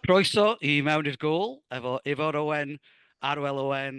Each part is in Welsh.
Croeso i Mewn i'r Gôl efo Ifor Owen, Arwel Owen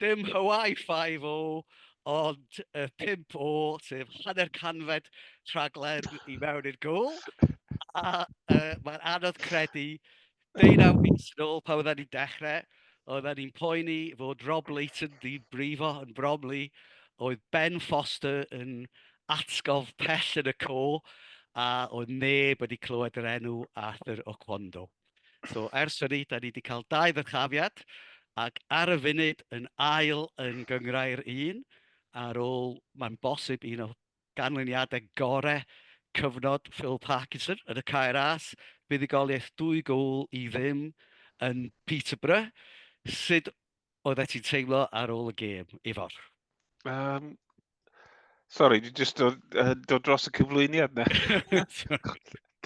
Dim Hawaii Five-O, ond y pump O, sef hanner canfed rhaglen i mewn i'r gŵyl. A yy mae'n anodd credu, deunaw mis yn ôl pan oedden ni'n dechrau, oedden ni'n poeni fod Rob Leighton 'di brifo yn Bromley, oedd Ben Foster yn atgof pell yn y co, a oedd neb wedi clywed yr enw Arthur Oquondo. So, ers hynny, da ni wedi cael dau ddyrchafiad, ac ar y funud yn ail yn gyngrau'r un, ar ôl, mae'n bosib, un o ganlyniadau gorau cyfnod Phil Parkinson yn y Caer As, buddugoliaeth dwy gol i ddim yn Peterborough. Sut oeddet ti'n teimlo ar ôl y gêm, Ifor? Um, Sorry, dwi jyst dod, uh, dod dros y cyflwyniad na.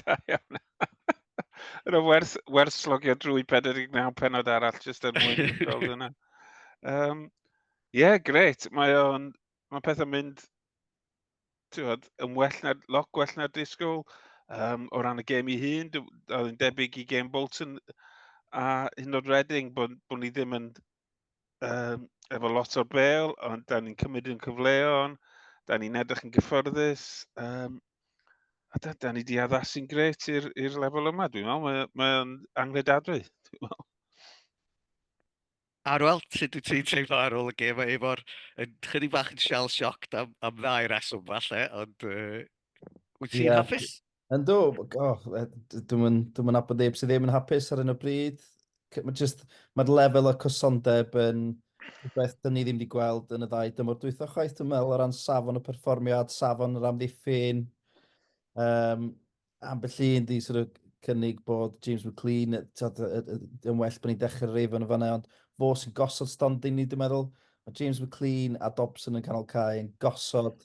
da iawn. Yna werth, werth slogio drwy 49 penod arall jyst er mwyn gweld yna. Um, Ie, yeah, gret. Mae o'n... Mae pethau'n mynd tywed, yn well na, lot gwell na disgwyl um, o ran y gem i hun. Oedd yn debyg i gem Bolton a hyn o'r Reading bod, bod ni ddim yn um, efo lot o'r bel, ond da ni'n cymryd yn cyfleon, da ni'n edrych yn gyffyrddus. Um, a da, da ni wedi addasu'n gret i'r lefel yma, dwi'n meddwl. Mae'n mae angredadwy, dwi'n meddwl. Arwel, sut wyt ti'n teimlo ar ôl y gêm? Mae Efo'r yn chydig bach yn shell shocked am, am ddau reswm falle, ond uh, wyt ti'n yeah. hapus? Yn do, oh, dwi'n mynd, dwi mynd abod neb sydd ddim yn hapus ar un o bryd. Mae just, mae'r lefel o cysondeb yn rhywbeth dyn ni ddim wedi gweld yn y ddau dymor dwytho chwaith, dwi'n meddwl, o ran safon y perfformiad, safon yr amddiffyn. Um, ambell un di sort of cynnig bod James McLean yn well bod ni'n dechrau rif yn y fanna, ond fo sy'n gosod stondin ni, dwi'n meddwl. Mae James McLean a Dobson yn canol cae yn gosod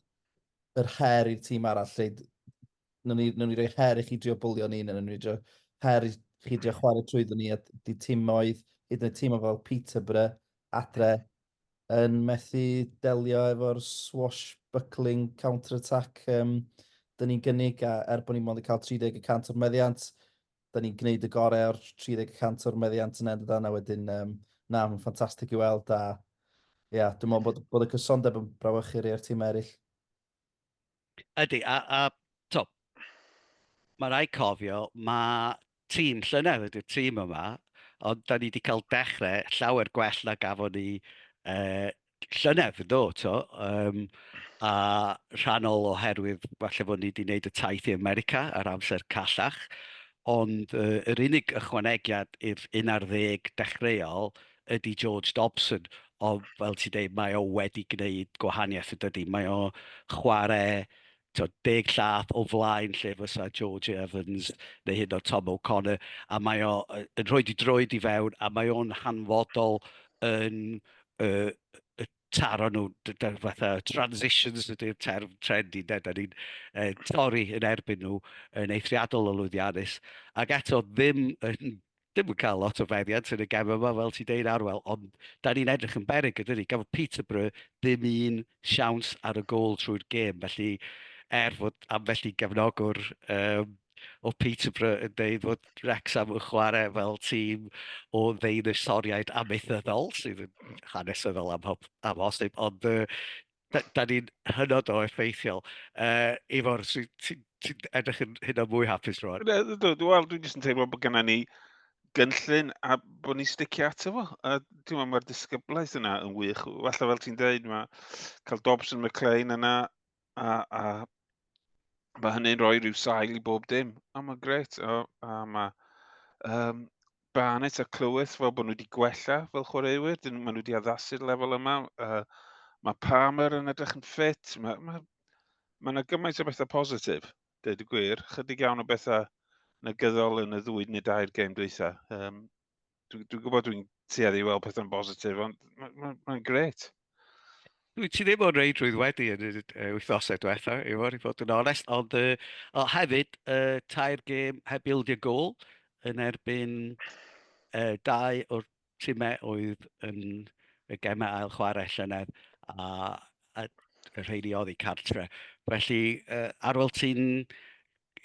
yr her i'r tîm arall. Lle, nhw'n ni, nhw ni roi her i chi drio bwlio ni, nhw'n ni roi her i chi drio chwarae trwy ni, a di tîm oedd, hyd yn y tîm oedd fel Peterborough, adre, yn methu delio efo'r swashbuckling counter-attack um, dyn ni'n gynnig, a er bod ni mond yn cael 30 y cant o'r meddiant, dyn ni'n gwneud y gorau o'r 30 y cant o'r meddiant yn endydan, a wedyn, um, na, mae'n ffantastig i weld, a ia, dwi'n meddwl bod, bod y cysondeb yn brawychu rei o'r tîm eraill. Ydy, a, a to, mae rai cofio, mae tîm llynedd ydy'r tîm yma, ond da ni wedi cael dechrau llawer gwell na gafon ni uh, llynedd, ynddo, to. Um, a rhannol oherwydd, falle bod ni wedi gwneud y taith i America ar amser callach, ond uh, yr unig ychwanegiad i'r 11 dechreuol ydy George Dobson, ond fel ti'n dweud, mae o wedi gwneud gwahaniaeth yn dydy. Mae o chwarae to, deg llath o flaen lle fysa George Evans neu hyd o Tom O'Connor, a mae o yn rhoi di droed i fewn, a mae o'n hanfodol yn uh, taro nhw, fatha transitions ydy'r term trend i, da ni'n uh, torri yn erbyn nhw yn eithriadol o lwyddiannus, ac eto ddim yn ddim yn cael lot o feddiant yn y gem yma, fel ti'n deud nawr, wel, ond da ni'n edrych yn berig ydyn ni. Gafodd Peterborough ddim un siawns ar y gol trwy'r gêm, felly er fod ambell i gefnogwr um, o Peterborough yn dweud fod Wrexham yn chwarae fel tîm o ddeinosoriaid amaethyddol, sydd yn hanesyddol am, am hosib, ond uh, da, da ni'n hynod o effeithiol. Uh, Ifor, ti'n sy, sy edrych yn hynod mwy hapus rwan? Wel, dwi dwi'n jyst yn teimlo bod gennym ni gynllun a bod ni'n sticio ato fo. A ti'n meddwl, mae'r disgyblaeth yna yn wych. Falle fel ti'n dweud, mae cael Dobson McLean yna a, a mae hynny'n rhoi rhyw sail i bob dim. A mae'n gret. A, a mae um, Barnet a Clywys fel bod nhw wedi gwella fel chwaraewyr, dyn maen nhw wedi addasu'r lefel yma. Uh, mae Palmer yn edrych yn ffit, mae yna ma, ma gymaint o bethau positif, dweud y gwir, chydig iawn o bethau negyddol yn y ddwy neu dair gêm dweitha. Um, Dwi'n dwi gwybod dwi'n tueddu i weld pethau'n bositif, ond mae'n ma, ma gret. Wyt ti ddim o'n reidrwydd wedi yn y wythnosau diwetha, i fod i fod yn onest, ond uh, oh, hefyd, uh, tair gêm heb ildio gol yn erbyn uh, dau o'r timau oedd yn y gemau ail chwarae llynedd a, a y rheini oedd i cartre. Felly, uh, ar ôl ti'n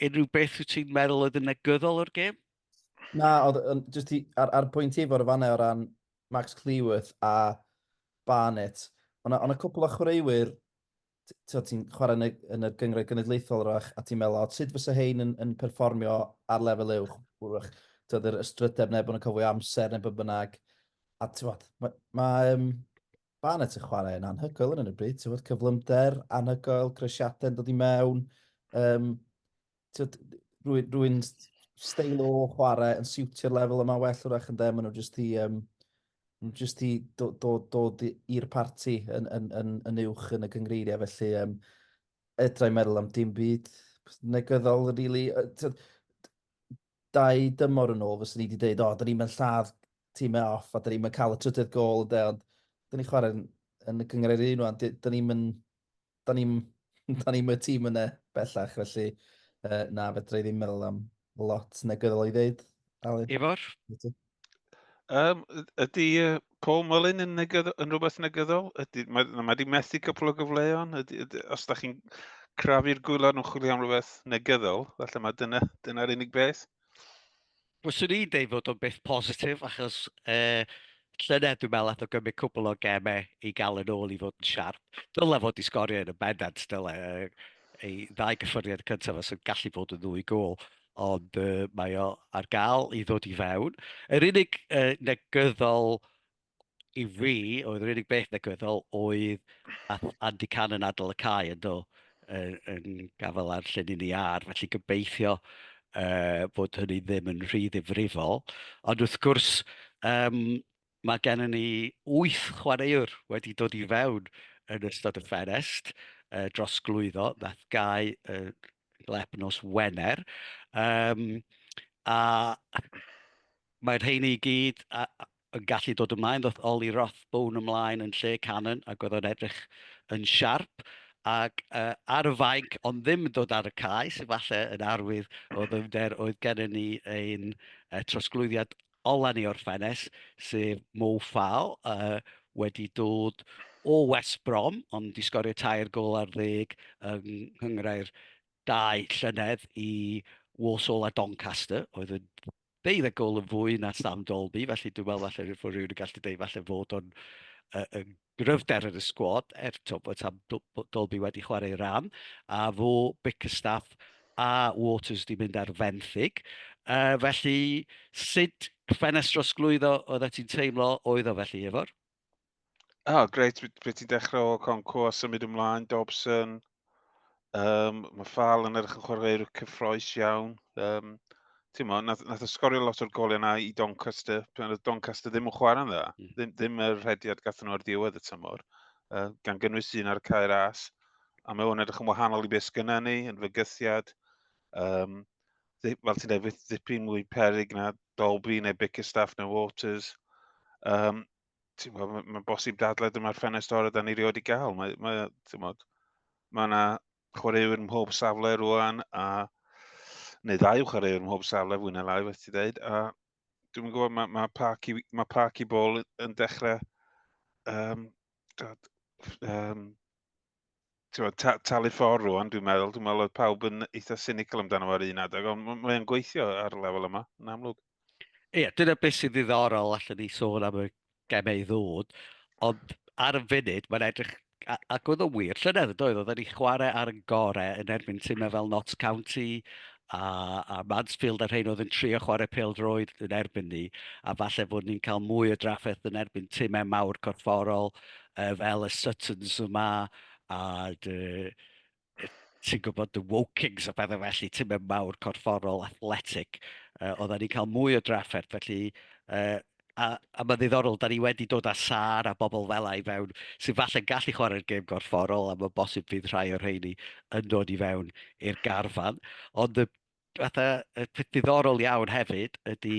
unrhyw beth wyt ti'n meddwl oedd yn negyddol o'r gêm? Na, oedd, jyst ti, ar, ar pwynt ti fod y fannau o ran Max Cleworth a Barnett, ond yna cwpl o chwaraewyr ti'n chwarae yn y, yn y gyngred genedlaethol rach, a ti'n meddwl, o, sut fysa hein yn, yn perfformio ar lefel uwch? Wrach, ti'n yr ystrydeb neu bod yn cofio amser neu bod bynnag. A ti'n bod, mae ma, um, Barnett yn chwarae yn anhygoel yn y bryd, ti'n bod, cyflymder, anhygoel, cresiadau yn dod i mewn. Um, tyd, rwy'n rwy stael o chwarae yn siwtio'r lefel yma well wrach yn ddim, maen nhw jyst i, um, jyst i dod, dod, dod i'r parti yn, yn, yn, yn uwch yn y cyngreiriau, felly um, edrai meddwl am dim byd negyddol, really. Dau dymor yn ôl, fyswn ni wedi dweud, o, oh, da ni'n mynd lladd tîm e off, a da ni'n mynd cael y trydydd gol, de, ond da ni'n chwarae yn, yn y cyngreiriau un o'n, da ni'n mynd Da ni, da ni'm y tîm yna bellach, felly uh, na, fedra i ddim meddwl am lot negyddol i ddeud. Aled? Ifor? Um, ydy uh, Paul Mullin yn, negydd, yn rhywbeth negyddol? Ydy, mae, mae wedi methu cwpl o gyfleon? Ydy, ydy, os da chi'n crafu'r gwylod yn chwilio am rhywbeth negyddol, felly mae dyna'r dyna unig beth? Fyswn i'n deud fod o'n beth positif achos uh, llynedd dwi'n meddwl eto gymryd cwbl o gemau i gael yn ôl i fod yn siarp. Dyle fod i sgorio yn y bendant, dyle ei ddau gyffuriad cyntaf os yn gallu bod yn ddwy gol ond uh, mae o ar gael i ddod i fewn. Yr unig uh, negyddol i fi, oedd yr unig beth negyddol oedd ath Andy Can yn adol y cae yn do, yn, yn gafael ar lle ni ar, felly gobeithio uh, bod hynny ddim yn rhy ddifrifol. Ond wrth gwrs, um, mae gennym ni wyth chwaraewr wedi dod i fewn yn ystod y fferest uh, dros glwyddo, nath gau uh, lep nos Wener. Um, a mae'r rheini i gyd, a, yn gallu dod ymlaen, ddoth Ollie Rothbone ymlaen yn lle Cannon ac oedd o'n edrych yn siarp ac uh, ar y fainc ond ddim yn dod ar y cae, sy'n falle yn arwydd o ddyfnder oedd gennym ni ein uh, trosglwyddiad ola ni o'r ffenes, sef Mo Fal, uh, wedi dod o West Brom, ond wedi sgorio tair gol ar ddeg yng nghyngrau'r dau llynedd i Walsall a Doncaster, oedd yn Bydd y gol yn fwy na Sam Dalby, felly dwi'n meddwl falle rwy'n rhywun yn gallu dweud falle fod o'n uh, yn gryfder yn y sgwad, er to, bod Sam Dalby wedi chwarae ran, a fo Bickerstaff a Waters wedi mynd ar fenthyg. Uh, felly, sut ffenestr osglwyddo oedd ti'n teimlo oedd o felly, Ifor? oh, greit, pryd ti'n dechrau o Conco a symud ymlaen, Dobson. Um, mae Fal yn edrych yn chwarae'r cyffroes iawn. Um, ti'n mo, nath, nath ysgorio lot o'r golau yna i Doncaster, pan oedd Doncaster ddim yn chwarae yna, mm. ddim, ddim yr rhediad gath nhw ar diwedd y tymor, uh, gan gynnwys un ar y cair as, a mae hwn edrych yn wahanol i beth gyda ni, yn fygythiad. Um, fel ti'n dweud, fydd ddipyn mwy perig na Dolby neu Bickerstaff neu Waters. Um, ti'n gwybod, mae'n ma bosib dadlau dyma'r ffenest orau da ni rioed wedi gael. Mae, mae, ti'n gwybod, mae yna chwaraewyr mhob safle rwan, a, neu ddau chwaraewyr mhob safle fwy na lai, beth ti dweud, a dwi'n gwybod mae, mae Parky, mae Parky Ball yn dechrau um, um, Ti'n ta, talu ffordd rwan, dwi'n meddwl. Dwi'n meddwl oedd pawb yn eitha cynical amdano ar un adeg, ond mae'n gweithio ar y lefel yma, yn amlwg. Ie, yeah, dyna beth sy'n ddiddorol allan ni sôn am y gemau ddod, ond ar y funud mae'n edrych ac oedd o'n wir, llynedd yn doedd, oedd wedi chwarae ar y gorau yn erbyn tymau fel Notts County a, a Mansfield a'r rhain oedd yn trio chwarae pel droed yn erbyn ni, a falle fod ni'n cael mwy o drafferth yn erbyn tymau mawr corfforol, uh, fel y Suttons yma, a dy, ti'n gwybod y Wokings a bethau felly, ti'n mynd mawr corfforol, athletic, uh, oedden ni'n cael mwy o drafferth, felly uh, a, a mae'n ddiddorol, da ni wedi dod â sar a bobl fel ei fewn sy'n falle'n gallu chwarae'r gêm gorfforol a mae'n bosib fydd rhai o'r rheini yn dod i fewn i'r garfan. Ond y fatha, y peth diddorol iawn hefyd ydy,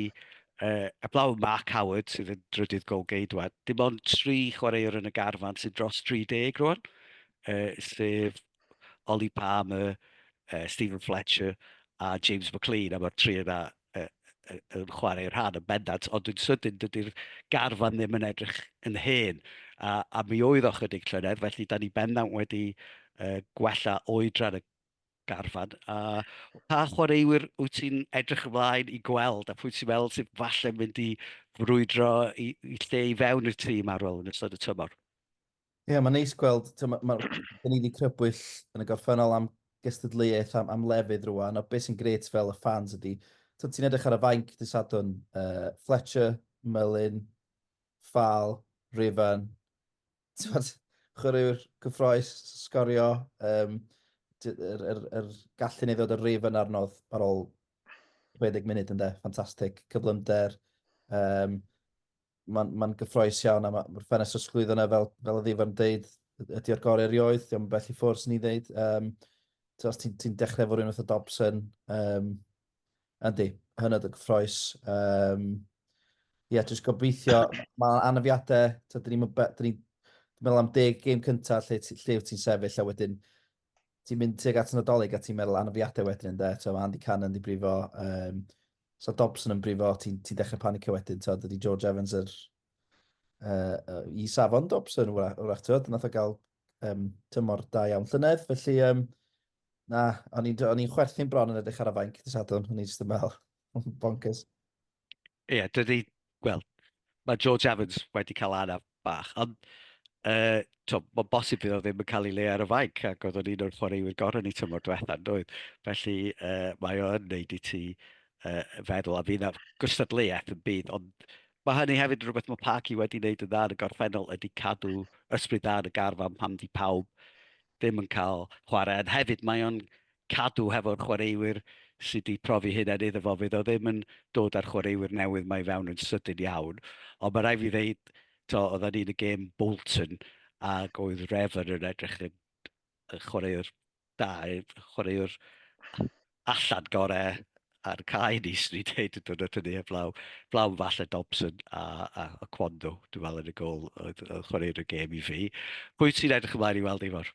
uh, eblaw Mark Howard sydd yn drydydd gol geidwad, dim ond tri chwaraewr yn y garfan sydd dros 30 rwan, uh, sef Ollie Palmer, uh, Stephen Fletcher a James McLean, a mae'r tri yna uh, uh, yn chwarae rhan yn bendant, ond yn sydyn dydy'r garfan ddim yn edrych yn hen, a, a mi oedd o chydig llynedd, felly da ni bendant wedi uh, gwella oedran y garfan, a pa chwaraewyr wyt ti'n edrych ymlaen i gweld, a pwy ti'n meddwl sydd falle mynd i frwydro i, i lle i fewn i'r tîm ar ôl yn ystod y tymor? Ie, yeah, mae'n neis gweld, mae ma, ni wedi crybwyll yn y gorffennol am gystadleuaeth am, am lefydd rwan, a beth sy'n gret fel y ffans ydy, ti'n edrych ar y fainc dy sadwn, uh, Fletcher, Merlin, Fal, Rifan, t'mod chwaraewr cyffrous s- sgorio yym dy- yr yr yr gallu 'ny i ddod â'r rif yna arnodd ar ôl 60 munud ynde? Ffantastig. Cyflymder yym ma'n ma'n gyffrous iawn a ma' ma'r ffenest trosglwyddo 'na fel fel o'dd Ifan yn deud y- ydi o'r gore erioed, 'di o'm bell i ffwr' swn i'n ddeud. Yym t'mo' os ti'n ti'n dechre efo rywun fatha Dobson yym Yndi, hynod o gyffroes. Um, yeah, just gobeithio, mae anafiadau, ta, dyn ni'n ni meddwl am deg gêm cyntaf lle, lle wyt ti'n sefyll a wedyn ti'n mynd tuag at Nadolig a ti'n meddwl anafiadau wedyn ynddo, ti'n meddwl Andy Cannon yn brifo, um, so Dobson yn brifo, ti'n ti dechrau panicio wedyn, ti'n dydy George Evans yr, uh, uh, i safon Dobson, wrach, ti'n meddwl, nath o gael um, tymor da iawn llynedd, felly um, na, o'n i'n chwerthin bron yn edrych ar y fainc dy sadwn, o'n i'n just yn meddwl, bonkers. Ie, yeah, dydy, wel, mae George Evans wedi cael anaf bach, ond uh, to, mae'n bosib bydd o ddim yn cael ei le ar y fainc, ac oedd o'n un o'r chwaraewyr gorau ni tymor diwetha, doedd. Felly uh, mae o'n neud i ti uh, feddwl, a fydd na gystadleuaeth yn byd, ond Mae hynny hefyd yn rhywbeth mae Parky wedi wneud yn dda yn y gorffennol ydy cadw ysbryd dda yn y garfan pam di pawb ddim yn cael chwarae. Yn hefyd mae o'n cadw hefo'r chwaraewyr sydd wedi profi hyn er iddo fo fydd o ddim yn dod â'r chwaraewyr newydd mae fewn yn sydyn iawn. Ond mae rhaid fi ddeud, to, oedden ni'n y gêm Bolton ac oedd Revan yn edrych yn chwaraewr da, chwaraewr allan gorau ar cae ni, swn i'n dweud, yn dod o tynnu heblaw. Blaw falle Dobson a, a, a Cwando, dwi'n meddwl yn y gol, oedd, oedd chwaraewr y gêm i fi. Pwy ti'n edrych ymlaen i weld i fawr?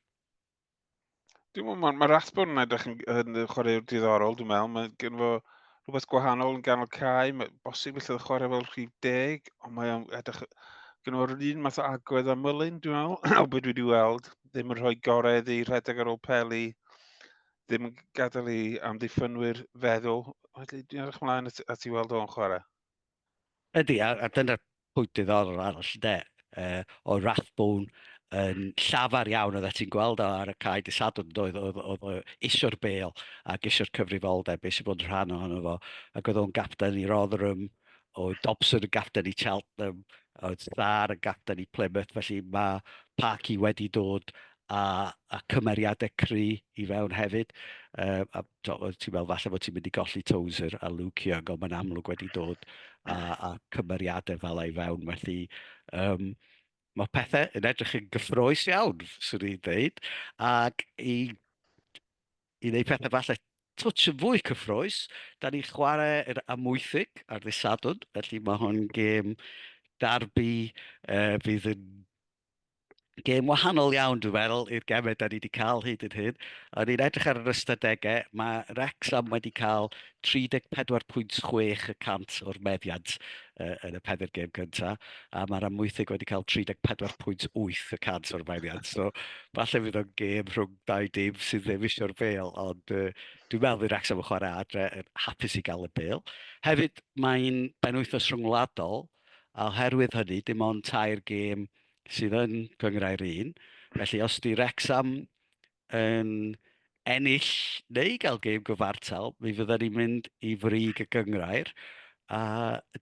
Dwi'n meddwl, mae ma Rathbone yn edrych yn, yn chwaraewr diddorol, dwi'n meddwl. Mae gen fo rhywbeth gwahanol yn ganol cae, mae bosib felly oedd chwarae fel rhif deg, ond mae o'n edrych... Gen fo'r un math o agwedd a Mullin, dwi'n meddwl, o beth dwi wedi weld. ddim yn rhoi gorau iddi rhedeg ar ôl peli, ddim yn gadael i amddiffynwyr feddwl. Felly, dwi'n edrych ymlaen at, at i weld o'n chwarae. Ydy, a, a dyna'r pwynt diddorol arall, de, uh, o Rathbone yn llafar iawn oedd ti'n gweld o ar y cae dy sadwn doedd oedd, oedd, oedd isio'r bel ac isio'r cyfrifoldeb beth sy'n bod yn rhan ohono fo ac oedd o'n gapten i Rotherham Oedd Dobson yn gapten i Cheltenham, oedd Sarr yn gapten i Plymouth, felly mae Parky wedi dod a, a cymeriadau cry i fewn hefyd. Uh, a to, ti'n meddwl falle bod ti'n mynd i golli Tozer a Luke Young, ond mae'n amlwg wedi dod a, a cymeriadau fel ei fewn. Felly, um, mae pethau yn edrych yn gyffroes iawn, swn i'n dweud. Ac i I wneud pethau falle twtsh yn fwy cyffrous, da ni'n chwarae yr Amwythig ar ddydd Sadwrn, felly mae hwn gêm darbi uh, fydd yn gêm wahanol iawn, dwi'n meddwl, i'r gemau da ni wedi cael hyd yn hyn. O'n i'n edrych ar yr ystadegau, mae Wrexham wedi cael 34.6 y cant o'r meddiant uh, yn y pedr gêm cyntaf, a mae'r amwythig wedi cael 34.8 y cant o'r meddiant. So, falle fydd o'n gêm rhwng dau dim sydd ddim eisiau'r bel, ond uh, dwi'n meddwl i'r Wrexham yn chwarae adre yn hapus i gael y bel. Hefyd, mae'n benwythnos rhyngwladol, a oherwydd hynny, dim ond tair gêm sydd yn cyngrau'r un. Felly, os di Wrexham yn ennill neu gael gêm gyfartal, mi fydden ni'n mynd i frig y gyngrair. A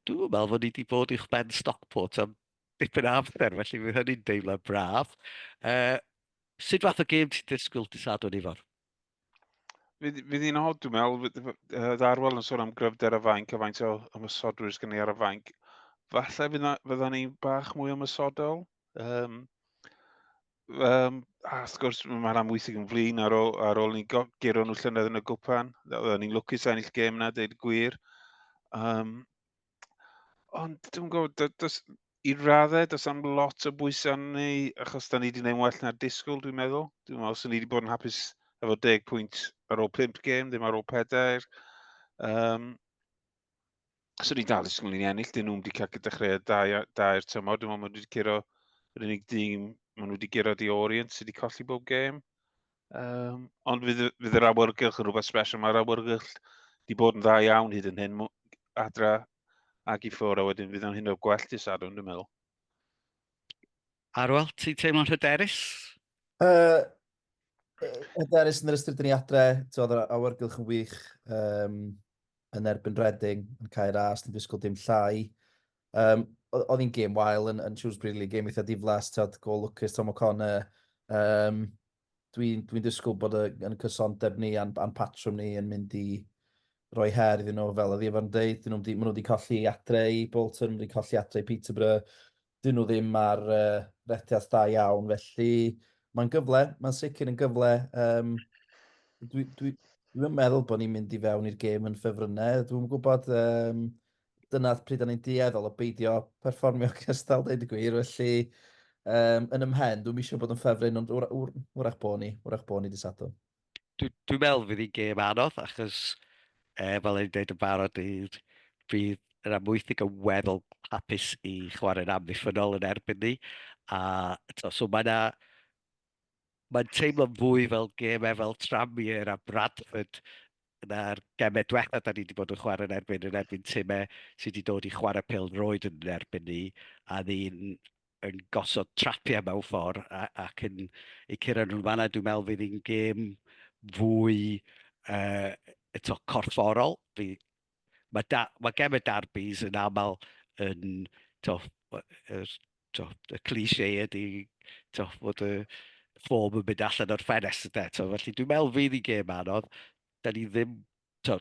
dwi'n meddwl fod ni wedi bod i'ch ben Stockport am dipyn o amser, felly fydd hynny'n deimlo braf. Uh, Sut fath o gêm ti'n disgwyl dy Sadwrn, Ifor? Fydd, fydd hi'n hod, dwi'n meddwl, oedd Arwel yn sôn am gryfder y fainc a faint o ymwysodwyr sydd gen i ar y fainc. Falle fydda ni bach mwy ymwysodol. Um, um, a wrth gwrs, mae'n amwysig yn flin ar ôl, ar ôl ni giro nhw llynedd yn y gwpan. Oedden ni'n lwcus ennill gêm yna, dweud gwir. Um, Ond dwi'n gwybod, do- does... i raddau, does am lot o bwysau arno ni, achos da ni wedi gwneud well na'r disgwyl, dwi'n meddwl. Dwi'n meddwl, os ni wedi bod yn hapus efo deg pwynt ar ôl pimp gêm, ddim ar ôl pedair. Um, so ni dal ysgol ni'n ennill, dyn nhw'n wedi cael dechreuad da, ia- da i'r tymor. Dwi'n meddwl, maen nhw wedi curo yr unig dîm, maen nhw wedi guro di Orient sydd wedi colli bob gêm. Um, ond fydd, fydd yr awyrgylch yn rhywbeth special. Mae'r awyrgylch wedi bod yn dda iawn hyd yn hyn. Adra ag i ffwr, a wedyn fydd o'n hyn o gwell dy sadwn, dwi'n meddwl. Arwel, ti'n teimlo'n hyderus? Uh, hyderus yn yr ystyr dyn ni adre, oedd yr awyrgylch yn wych um, yn erbyn Reading, yn cael ras, yn disgwyl dim llai. Um, oedd hi'n gêm wael yn, yn Shrewsbury League, gêm eitha diflas, tyd, gol lwcus Tom O'Connor. Um, Dwi'n dwi disgwyl bod yn cysondeb ni a'n, an patrwm ni yn mynd i roi her iddyn nhw, fel oedd efo'n dweud. Dyn nhw wedi, wedi colli adre i Bolton, wedi colli adre i Peterborough. Dyn nhw ddim ar uh, rethiaeth da iawn, felly mae'n gyfle, mae'n sicr yn gyfle. Um, Dwi'n dwi, dwi meddwl bod ni'n mynd i fewn i'r gêm yn ffefrynnau. Dwi'n gwybod, um, dyna pryd o'n i'n dueddol o beidio perfformio cystal, dweud y gwir, felly um, yn ymhen, dwi'n eisiau bod yn ffefryn, ond wrach bo ni, wrach bo ni disadwn. Dwi'n dwi meddwl fydd hi'n gêm anodd, achos e, fel ein dweud yn barod, bydd, bydd yr amwythig yn weddol hapus i chwarae'n amddiffynol yn erbyn ni. A, to, so mae yna mae'n teimlo fwy fel gemau fel Tranmere a Bradford na'r gemau diwetha da ni wedi bod yn chwarae yn erbyn, yn erbyn timau sydd wedi dod i chwarae pel roed yn erbyn ni, a ni'n yn gosod trapiau mewn ffordd a, ac yn eu cyrraedd nhw'n fanna, dwi'n meddwl fydd hi'n gêm fwy uh, eto corfforol, fi Mae, da, mae gem y darbys yn aml yn, to, er, to, y cliché ydy to, fod y ffom yn mynd allan o'r ffenest ydy. To, felly dwi'n meddwl fydd i gem anodd. Da ni ddim, to,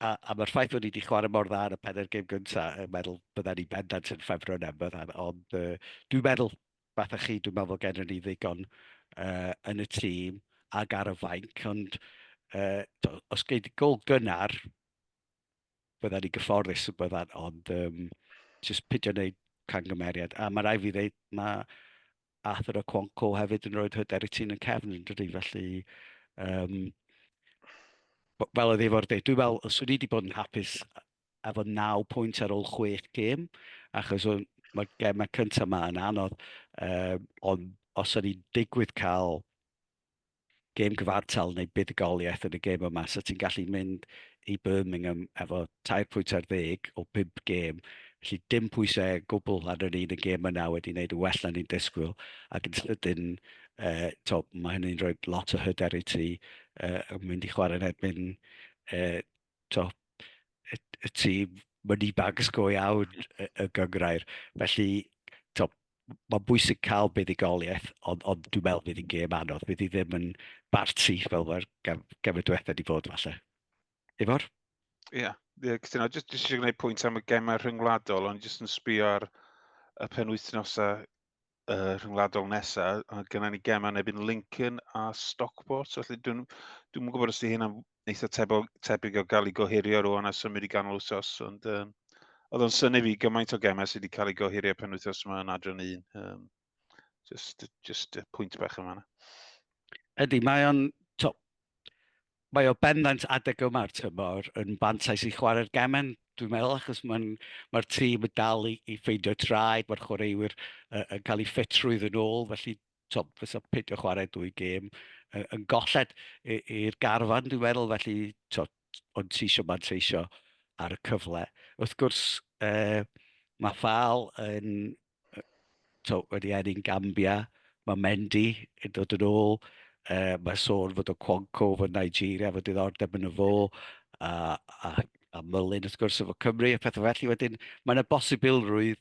a, a mae'r ffaith bod ni wedi chwarae mor dda ar y pedair gem gyntaf, yn meddwl bydda ni bendant yn ffefro yn Emberth, ond uh, dwi'n meddwl fatha chi, dwi'n meddwl bod gennym ni ddigon uh, yn y tîm ac ar y fainc, ond uh, os gei di gol gynnar, bydda ni gyfforddus y byddan, ond um, jyst pidio wneud cangymeriad. A mae rai fi ddeud, mae Arthur o Cwanco hefyd yn rhoi hyder i ti'n yn cefn yn dydy, felly um, fel oedd efo'r dweud, dwi'n meddwl, os wedi wedi bod yn hapus efo naw pwynt ar ôl chwech gêm, achos o'n, mae'r gemau cyntaf yma yn anodd, uh, ond os o'n i'n digwydd cael gêm gyfartal neu buddigoliaeth yn y gêm yma, so ti'n gallu mynd i Birmingham efo tair pwynt ar ddeg o bimp gêm, felly dim pwysau gwbl ar yr un y gêm yna wedi wneud yn well na ni'n disgwyl, ac yn sydyn, uh, to, mae hynny'n rhoi lot o hyder i ti uh, yn mynd i chwarae yn erbyn uh, to, y, y tri money bags go iawn y, y gyngrair. Felly, to, mae'n bwysig cael buddigoliaeth, ond, ond dwi'n meddwl fydd hi'n gêm anodd. Fydd hi ddim yn barti fel mae'r gemau diwethaf wedi bod falle. Ifor? Ie, yeah. yeah, cytuno. Jyst jyst eisiau gwneud pwynt am y gemau rhyngwladol, ond jyst yn sbio ar y penwythnosau uh, rhyngwladol nesaf, a gyda ni gemau nebyn Lincoln a Stockport, felly dwi'n dwi yn gwybod os ydy hynna'n eitha tebog, tebyg o gael ei gohirio rwan a symud i ganol wsos, ond um, oedd o'n syni fi gymaint o gemau sydd wedi cael ei gohirio pen wythnos yma yn adran un. Um, just, just pwynt bach yma. Ydy, mae o'n mae o bendant adeg yma'r tymor yn fantais i chwarae'r gemen, dwi'n meddwl, achos mae'r mae tîm yn dal i, i ffeindio traed, mae'r chwaraewyr uh, yn cael ei ffitrwydd yn ôl, felly to, fysa peidio chwarae dwy gêm yn, yn golled i'r garfan, dwi'n meddwl, felly to, ond ti eisiau manteisio ar y cyfle. Wrth gwrs, uh, mae Fal yn tibod wedi ennill Gambia, mae Mendy yn dod yn ôl, yy mae sôn fod y Okonkwo efo Nigeria efo diddordeb yn y fo, a a a Mullin wrth gwrs efo Cymru a phethe felly wedyn mae 'na bosibilrwydd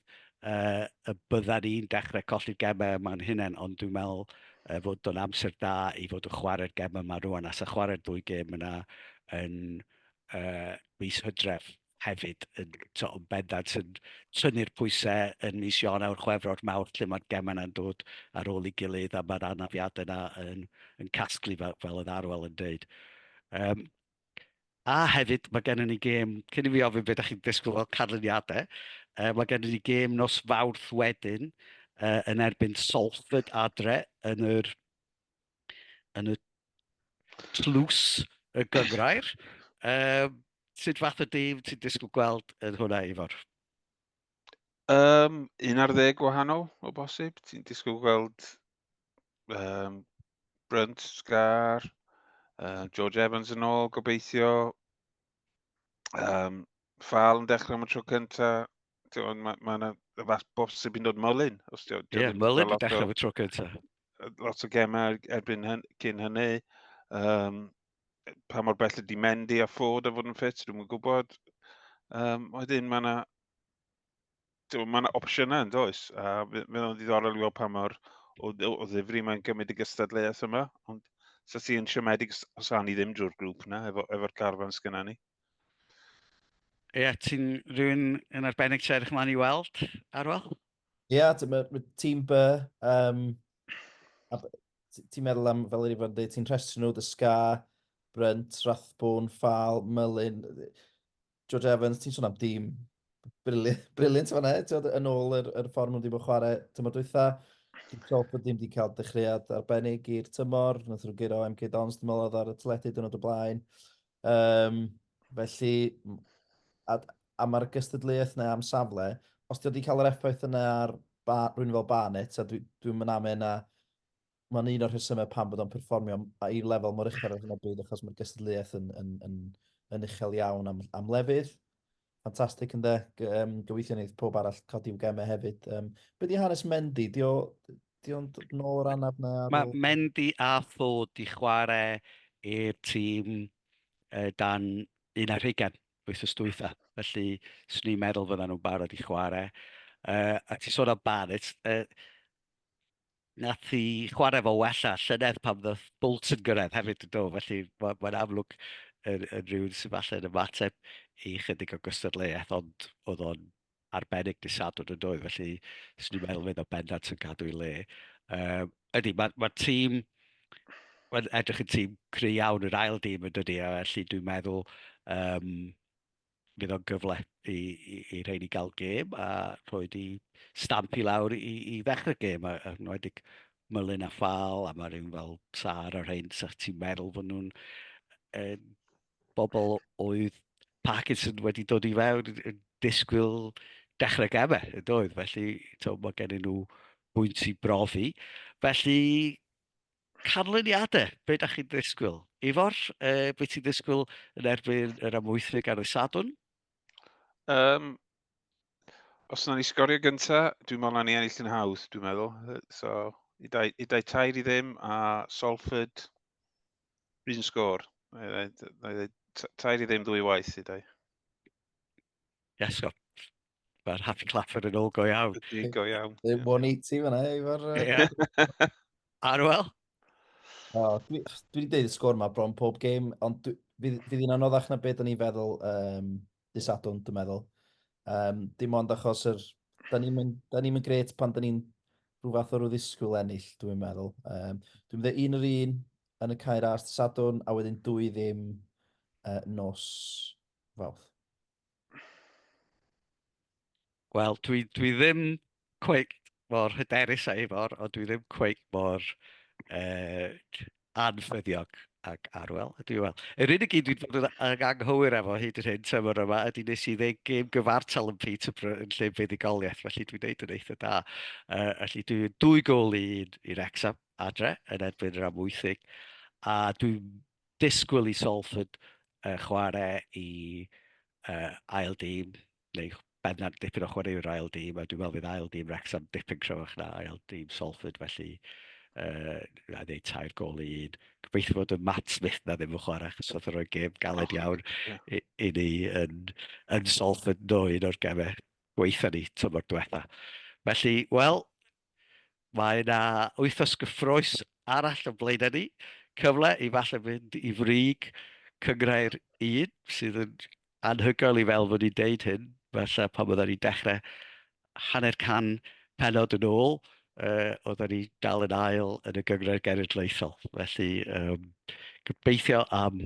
yy y byddan ni'n dechrau colli'r gemau yma'n hunain ond dwi'n meddwl yy fod o'n amser da i fod yn chwarae'r gemau yma rŵan a 'sa chwarae'r ddwy gêm yna yn yy mis Hydref hefyd yn tibod yn bendant yn tynnu'r pwysau yn mis Ionawr, Chwefror, Mawrth lle mae'r gemau 'na'n dod ar ôl ei gilydd a mae'r anafiadau 'na yn yn casglu fel fel oedd Arwel yn deud. Yym, a hefyd mae gennym ni gêm, cyn i fi ofyn be dach chi'n disgwyl fel canlyniadau, yy mae gennym ni gêm nos Fawrth wedyn yy yn erbyn Salford adre yn yr yn y tlws y gyngrair. Um, sut fath o dîm ti'n disgwyl gweld yn hwnna, Ifor? Um, un ar ddeg gwahanol o bosib. Ti'n disgwyl gweld um, Brunt, Scar, uh, George Evans yn ôl, gobeithio. Um, ffal yn dechrau am y tro cynta, ond mae ma yna y fath bob sy'n mynd o'r mylun. Ie, yeah, mylun yn dechrau am y tro cynta. Lot o gemau er-, erbyn hyn, cyn hynny. Um, pa mor bell ydi Mendy a Ford a fod yn ffit, dwi'n gwybod. Um, wedyn mae yna Mae yna opsiynau yn does, a mae'n o'n ddiddorol i weld pa mor o, o ddifri mae'n gymryd y gystadleuaeth yma, ond sa si yn siomedig os ni ddim drwy'r grŵp yna, efo'r efo carfan sgynna ni. Ie, yeah, ti'n rhywun yn arbennig ti'n edrych ymlaen i weld, Arwel? Ie, yeah, mae ma tîm by, um, ti'n meddwl am, fel yr i fod yn dweud, ti'n rhestru nhw, dy sga, Brynt, Rathbwn, Ffal, Mylun, George Evans, ti'n sôn am dîm briliant fanna, ti'n yn ôl yr, yr ffordd nhw'n ddim yn chwarae tymor dwytha. Dwi'n siol bod ddim wedi cael dechreuad arbennig i'r tymor. Nath nhw'n gyro MK Dons, dwi'n meddwl, ar y teledu dyn nhw'n y blaen. Um, felly, a, a mae'r gystadleuaeth yna am safle, os ti wedi cael yr effaith yna ar ba, rwy'n fel Barnet, a dwi'n dwi, dwi mynd am yna, Mae'n un o'r rhesymau pam bod o'n perfformio i lefel mor uchel ar hyn o bryd achos mae'r gystadleuaeth yn, yn, yn, yn uchel iawn am, am lefydd. Ffantastig ynddo, um, gobeithio wneud pob arall codi i'w gemau hefyd. Um, be di hanes Mendy? Di o, di o'n dod nôl o'r anaf na? Mae ôl? Mendy a Tho di chwarae i'r tîm uh, dan un ar hugen wythnos dwytha. Felly, swn i'n meddwl fydda nhw'n barod i chwarae. Uh, a ti sôn am Barrett, uh, Nath hi chwarae fo well a llynedd pan ddoth Bowlts yn gyrraedd hefyd yn do, felly mae'n ma amlwg yn, yn rhywun sy'n falle yn ymateb i chydig o gystadleuaeth, ond oedd o'n arbennig dy sadwn yn doedd, felly swn i'n meddwl fydd o bendant yn cadw i le. Um, ydy, mae'r ma tîm, mae'n edrych yn tîm cry iawn yr ail dîm yn dydy, a felly dwi'n meddwl um, fydd o'n gyfle i, i, i rhain i gael gêm a rhoi di stamp i lawr i, i ddechrau gêm, a, a nwedig Mylun a Ffal, a mae rhywun fel Sar a rhain, sa'ch ti'n meddwl fod nhw'n e, bobl oedd Parkinson wedi dod i fewn yn disgwyl dechrau gemau, y doedd, felly to, mae gen nhw bwynt i brofi. Felly, Canlyniadau, be da chi'n ddisgwyl? Ifor, uh, beth ti'n ddisgwyl yn erbyn yr amwythfig ar y sadwn? Um, os yna ni sgorio gynta, dwi'n meddwl na ni ennill yn hawdd, dwi'n meddwl. So, i dau, i dau tair i ddim, a Salford, rhywun sgôr. Tair i ddim ddwy waith i dau. Yes, go. Mae'r Happy Clapper yn ôl go iawn. Ydy, go iawn. Ddim 180 fyna, efo'r... Ie. Arwel? O, dwi wedi dweud y sgwr yma bron pob game, ond fydd hi'n anoddach na beth o'n i'n feddwl um, disadwn, dwi'n meddwl. Um, dim ond achos yr... Da ni'n mynd, da ni mynd gret pan da ni'n rhyw fath o rhyw ddisgwyl ennill, dwi'n meddwl. Um, dwi'n meddwl un yr un yn y cair ars disadwn, a wedyn dwy ddim uh, nos fawth. Wel, dwi, dwi ddim cweith mor hyderus a efo'r, ond dwi ddim cweith mor uh, anffyddiog ag Arwel, ydw i wel. Yr unig un dwi'n bod yn anghywir efo hyd yn hyn tymor yma ydy nes i ddeg gêm gyfartal yn Peterborough yn lle buddugoliaeth, felly dwi'n neud yn eitha da. Uh, felly dwi'n dwy gol i un i Rexham adre yn erbyn yr amwythig, a dwi'n disgwyl i Salford uh, chwarae i uh, ail dîm, neu beth na dipyn o chwarae i'r ail dîm, a dwi'n meddwl fydd ail dîm Wrexham dipyn cryfach na ail dîm Salford, felly uh, a ddeud tair gol i un. Gobeithio bod y Matt Smith na ddim yn chwarae, achos oedd yn rhoi gêm galed oh, iawn yeah. i, i ni yn, yn Salford no un o'r gemau gweitha ni tymor diwetha. Felly, wel, Mae yna wythnos gyffroes arall o blaenau ni, cyfle i falle fynd i frig cynghrair un sydd yn anhygoel i fel fod ni'n deud hyn, falle pan oedden ni'n dechrau hanner can penod yn ôl, uh, oedden ni dal yn ail yn y gynghrair genedlaethol. Felly, um, gobeithio am